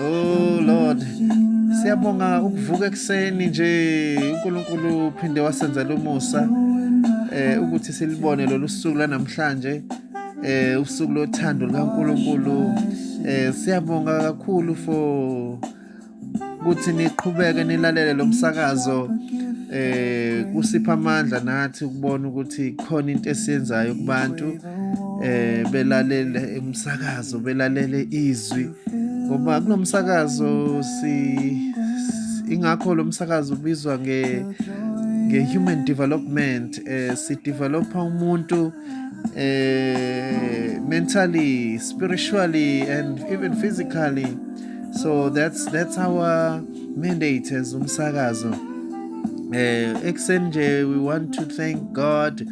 Oh Lord. Siyabonga ukuvuka ekseni nje uNkulunkulu uphinde wasenzela umusa eh ukuthi silibone lolu suku lanamhlanje eh usuku lothando likaNkulunkulu eh siyabonga kakhulu for ukuthi niqhubeke nilalele lo msakazo eh kusipha amandla nathi ukubona ukuthi khona into esiyenzayo kubantu eh belalele umsakazo belalele izwi ngoba kunomsakazo si ingakho lo msakazo ubizwa nge nge-human development eh sidevelopa umuntu eh mentally spiritually and even physically so that's that's our mandate as umsakazo eh ekuseni nje we want to thank God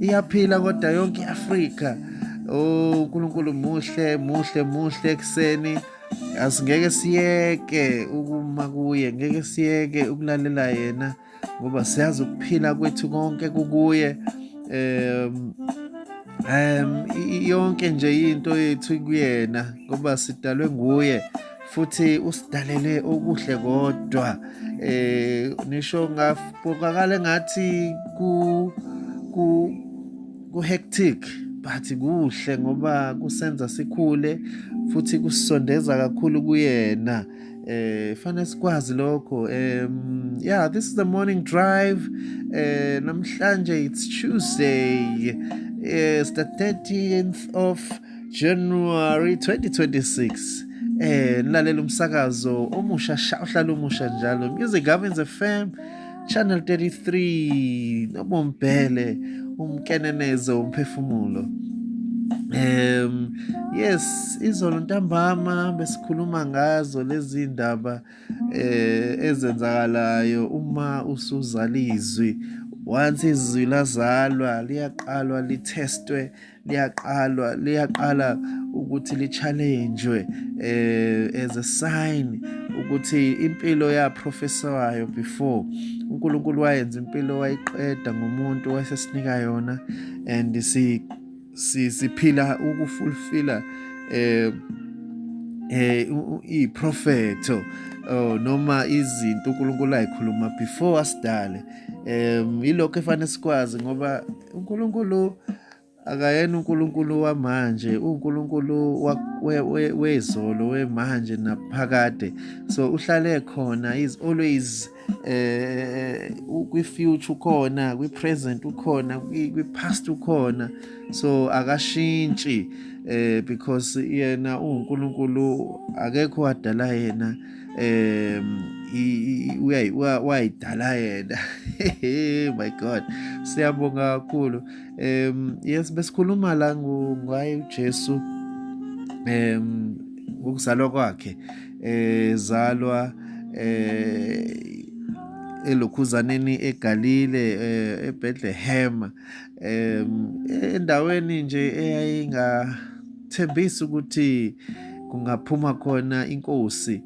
iyaphila kodwa yonke i-afrika o oh, unkulunkulu muhle muhle muhle ekuseni asingeke siyeke ukuma kuye ngeke siyeke ukulalela yena ngoba siyazi ukuphila kwethu konke kukuye um um yonke nje into yethu kuyena ngoba sidalwe nguye futhi usidalele okuhle kodwa eh nisho ngabukakale ngathi ku ku ku hectic but kuhle ngoba kusenza sikhule futhi kusondeza kakhulu kuyena eh fanele sikwazi lokho um yeah this is the morning drive eh namhlanje it's tuesday eh it's the 13th of January 2026 eh nilalela umsakazo omusha sha uhlala umusha njalo Music Gavins FM Channel 33 nobombhele umkenenezo umphefumulo Um yes izolo ntambama besikhuluma ngazo lezi ndaba eh ezenzakalayo uma usuzalizwi once izwi lazalwa liyaqalwa lithestwe liyaqalwa liyaqala ukuthi li-challenjwe eh, as a sign ukuthi impilo yaprofesawayo before uNkulunkulu wayenza impilo wayiqeda ngomuntu wasesinika yona and si siphila ukufulfilla eh eh iprofeto oh noma izinto uNkulunkulu ayikhuluma before asidale um ilokho efanele sikwazi ngoba uNkulunkulu akayena uNkulunkulu wamanje uNkulunkulu wezolo wemanje naphakade so uhlale khona is always eh kwi future ukhona kwi present ukhona kwi past ukhona so akashintshi eh because yena uNkulunkulu akekho wadala yena um wayidala yena my god siyabonga kakhulu um yes besikhuluma la ngaye ujesu um ukuzalwa kwakhe um zalwa um elokhuzaneni eGalile eh, eBethlehem endaweni nje eyayinga thembisa ukuthi kungaphuma khona inkosi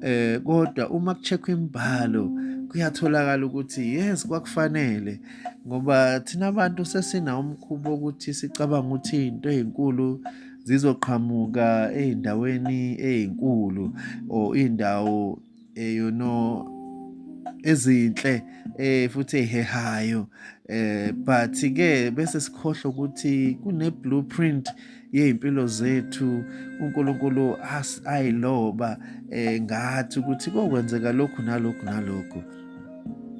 eh kodwa uma kucheckwa imbalo kuyatholakala ukuthi yes kwakufanele ngoba thina abantu sesina umkhubo ukuthi sicabanga ukuthi into ezinkulu zizoqhamuka ezindaweni ezinkulu or indawo eh you know ezinhle eh futhi ehehayo eh but ke bese sikhohle ukuthi kune blueprint yezimpilo zethu uNkulunkulu ayiloba eh ngathi ukuthi kokwenzeka lokhu nalokhu nalokhu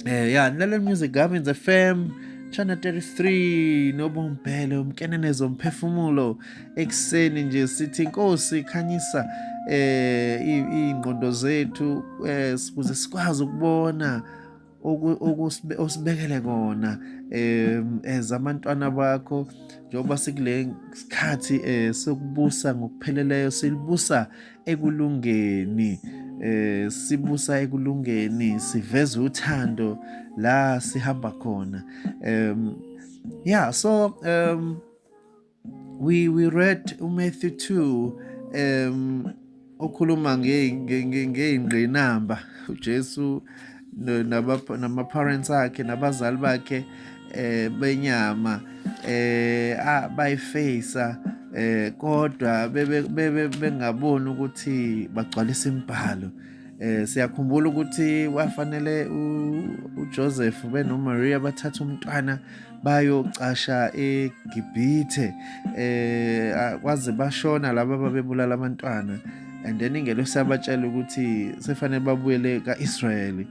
eh ya nale music Gavin FM channel 33 nobombhele umkenene zomphefumulo ekuseni nje sithi inkosi khanyisa eh ingqondo zethu eh ukuze sikwazi ukubona osibekele kona um as abantwana bakho njengoba sikule sikhathi um eh, sokubusa ngokupheleleyo silibusa ekulungeni eh sibusa ekulungeni siveza uthando la sihamba khona um yeah so um we we read uMatthew 2 um okhuluma ngeyingqinamba uJesu nama parents akhe nabazali bakhe eh benyama eh bayifacea eh kodwa bebe bengaboni ukuthi bagcwalisa imibhalo Eh siyakhumbula ukuthi wafanele uJoseph benoMaria bathatha umntwana bayocasha eGibhithe eh kwaze bashona laba babebulala abantwana and then ingelo siyabatshela ukuthi sefanele babuyele kaIsrael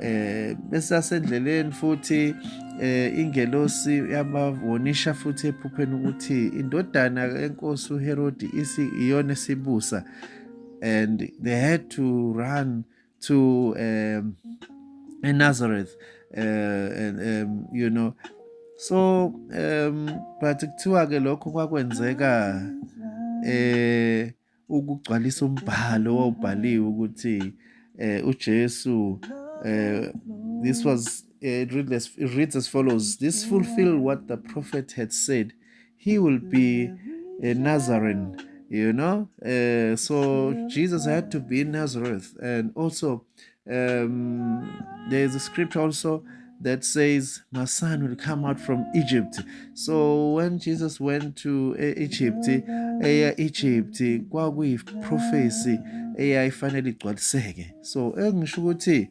eh besasendleleni futhi eh ingelosi yabawonisha futhi ephupheni ukuthi indodana yenkosi uHerodi isi iyona esibusa and they had to run to um, Nazareth, uh, and, um, you know. So, um, but kuthiwa ke lokho kwakwenzeka eh ukugcwalisa umbhalo wawubhaliwe ukuthi eh uJesu eh this was eh, it reads, as, it reads as follows this fulfill what the prophet had said he will be a Nazarene, you know. Uh, so Jesus had to be in Nazareth. And also, um, there is a scripture also that says, My son will come out from Egypt. So when Jesus went to uh, Egypt, eya uh, Egypt kwakuyi prophecy eyayifanele igcwaliseke. So engisho ukuthi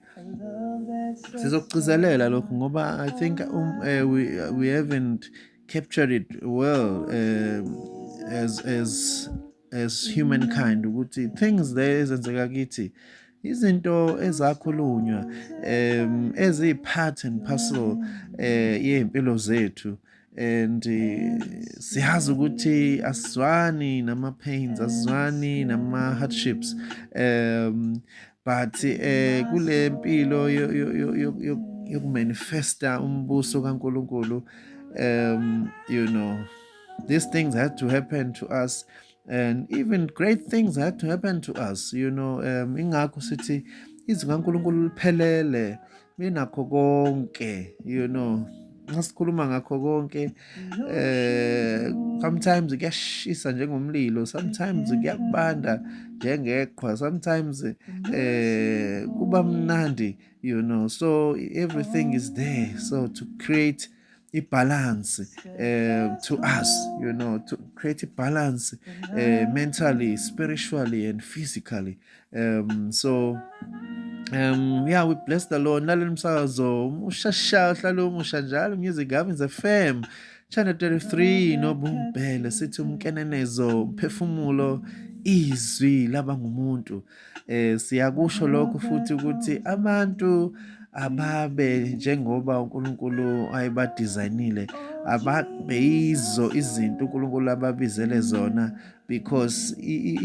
sizokugcizelela lokhu ngoba I think um, uh, we, we haven't capture it well uh, as as as humankind ukuthi things there ezenzeka kithi izinto ezakhulunywa um ezi part and parcel eh yempilo zethu and eh, siyazi ukuthi asizwani nama pains asizwani nama hardships um but eh kule mpilo yokumanifesta umbuso kaNkuluNkulu um you know these things had to happen to us and even great things had to happen to us you know um ingakho sithi izwi kaNkuluNkulu liphelele benakho konke you know nasikhuluma ngakho konke eh sometimes kuyashisa njengomlilo sometimes kuyakubanda njengeqhwa sometimes eh kuba mnandi you know so everything is there so to create ibalance eh to us you know to create balance eh mentally spiritually and physically um so um yeah we bless the lord naleli msakazo ushasha uhlala umusha njalo music gavins fm channel 33 nobumbhele sithi umkenenezo umphefumulo izwi laba ngumuntu Eh siyakusho lokho futhi ukuthi abantu ababe njengoba uNkulunkulu ayebadesignile ababeyizo izinto uNkulunkulu ababizele zona because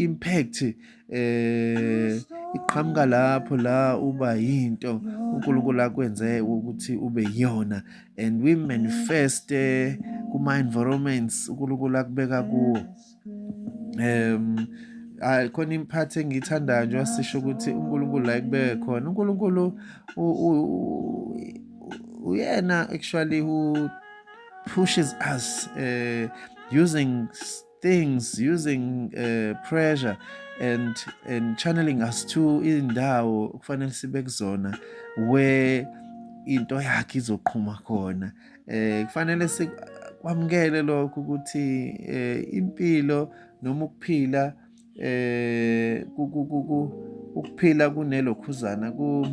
impact eh iqhamuka lapho la uba yinto uNkulunkulu akwenze ukuthi ube yona and we manifest eh, kuma environments uNkulunkulu akubeka kuwo um hayi khona imphathi engiyithandayo njengoba sisho ukuthi uNkulunkulu la ekubeke khona uNkulunkulu uyena actually who pushes us uh, using things using uh, pressure and and channeling us to indawo kufanele sibe kuzona where into yakhe izoqhuma khona Eh kufanele sikwamukele lokho ukuthi eh impilo noma ukuphila eh ukuphila kunelokhuzana ku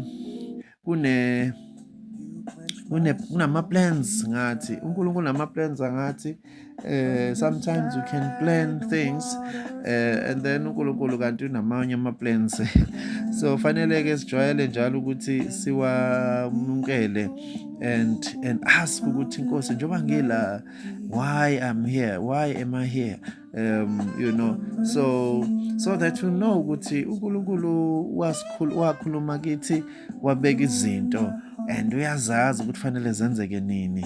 kune kunama plans ngathi uNkulunkulu nama plans ngathi Uh, sometimes you can plan things uh, and then uNkulunkulu kanti unamanye ama plans so fanele ke sijwayele njalo ukuthi siwamukele and and ask ukuthi inkosi njoba ngila why i'm here why am i here um you know so so that you know ukuthi uNkulunkulu wasikhulu wakhuluma kithi wabeka izinto and uyazazi ukuthi fanele zenzeke nini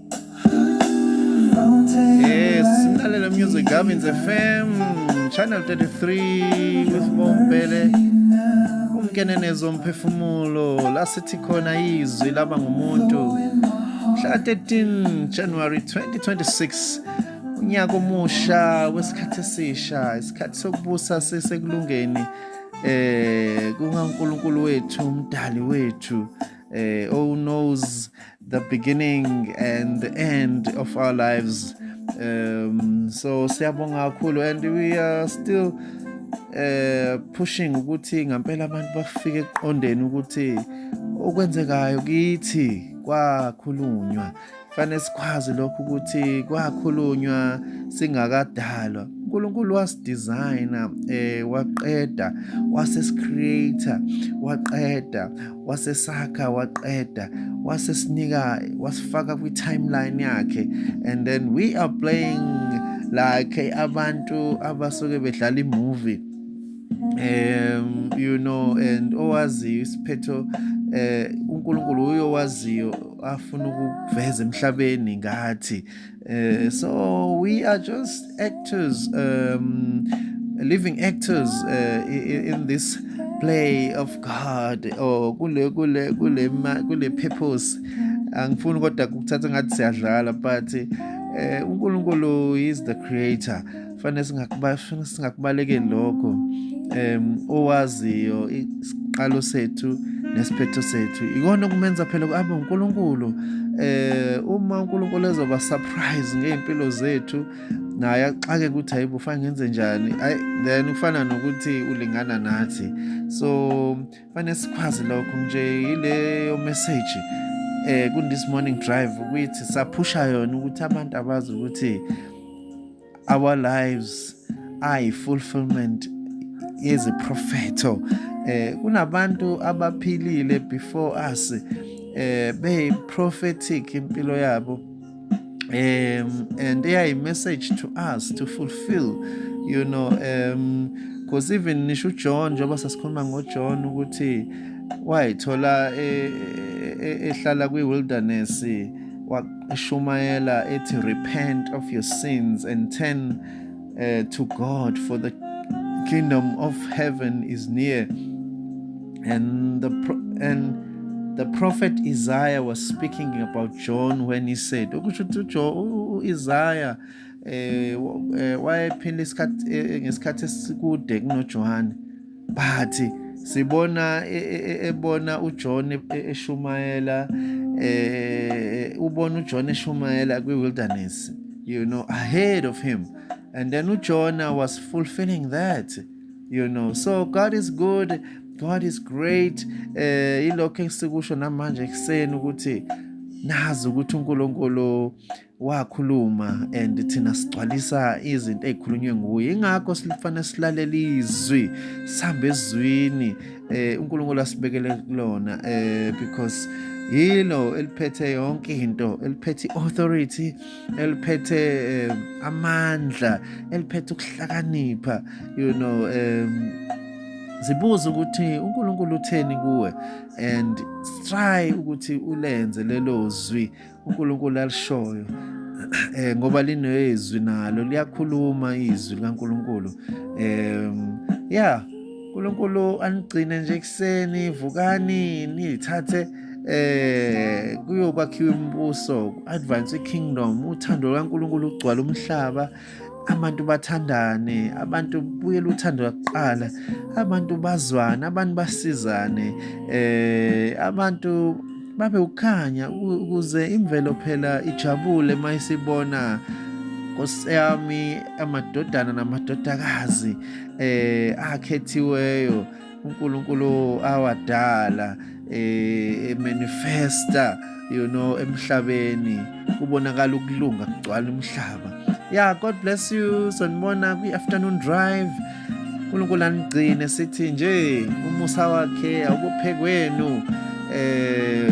Yes, Sindalela Music Gavins FM, Channel 33 with Bombele. Ungene nezo mphefumulo la sithi khona izwi laba ngumuntu. Mhla 13 January 2026 unyaka omusha wesikhathi esisha, isikhathi sokubusa sisekulungeni eh kungaNkulunkulu wethu, umdali wethu. eh oh knows the beginning and the end of our lives um so siyabonga kakhulu and we are still eh pushing ukuthi ngempela abantu bafike eqondeni ukuthi okwenzekayo kithi kwakhulunywa fanele sikwazi lokho ukuthi kwakhulunywa singakadalwa uNkulunkulu wasidesigner eh waqeda wasesicreator waqeda wasesakha waqeda wasesinika wasifaka kwi-timeline yakhe and then we are playing like abantu abasuke bedlala imovie um you know and owaziyo isiphetho eh uNkulunkulu uyowaziyo afuna ukuveza emhlabeni ngathi Uh, so we are just actors, um, living actors uh, in, in this play of God or kule kule kule kule purpose angifuni kodwa kukuthatha ngathi siyadlala but eh uNkulunkulu is the creator fanele singakuba fanele singakubalekeli lokho um owaziyo isiqalo sethu nesiphetho sethu ikona okumenza phela abe uNkulunkulu eh uma uNkulunkulu ezoba surprise ngeimpilo zethu naye axake ukuthi hayibo fanele ngenze njani ay then kufana nokuthi ulingana nathi so fanele sikwazi lokho nje ileyo message eh ku this morning drive ukuthi saphusha yona ukuthi abantu abazi ukuthi our lives ayi fulfillment yeziprofetho eh kunabantu abaphilile before us eh be prophetic impilo yabo um and they are a message to us to fulfill you know um because even nisho uJohn njengoba sasikhuluma ngoJohn ukuthi wayithola eh, eh, eh, ehlala kwi wilderness eshumayela ethi repent of your sins and turn uh, to God for the kingdom of heaven is near and the and the prophet Isaiah was speaking about John when he said okusho ukuthi Isaiah eh, eh wayephinda isikhathi eh, ngesikhathi esikude kunoJohane but sibona e, e, e, ebona uJohn eshumayela eh ubona uJohn eshumayela kwiwilderness you know ahead of him and then uJona was fulfilling that you know so God is good God is great eh ilokho esikusho namanje kuseni ukuthi nazi ukuthi uNkulunkulu wakhuluma and thina sigcwalisa izinto ezikhulunywe nguye ingakho sifanele silalela izwi sihambe ezwini eh uNkulunkulu asibekele kulona eh because yilo eliphethe yonke into eliphethe authority eliphethe eh, amandla eliphethe ukuhlakanipha you know um zibuze ukuthi uNkulunkulu utheni kuwe and try ukuthi ulenze lelo zwi uNkulunkulu alishoyo eh ngoba linezwi nalo liyakhuluma izwi likaNkulunkulu eh yeah uNkulunkulu anigcine nje kuseni vukani nilithathe eh kuyokwakhiwa imibuso advance kingdom uthando lwaNkulunkulu ugcwala umhlaba abantu bathandane abantu buyela uthando lwakuqala abantu bazwane abantu basizane eh abantu babe ukhanya ukuze imvelo phela ijabule mayisibona Nkosi yami amadodana namadodakazi eh akhethiweyo uNkulunkulu awadala eh manifesta you know emhlabeni kubonakala ukulunga kugcwala umhlaba yeah god bless you sanibona kwi afternoon drive uNkulunkulu anigcine sithi nje umusa wakhe awubophekweni eh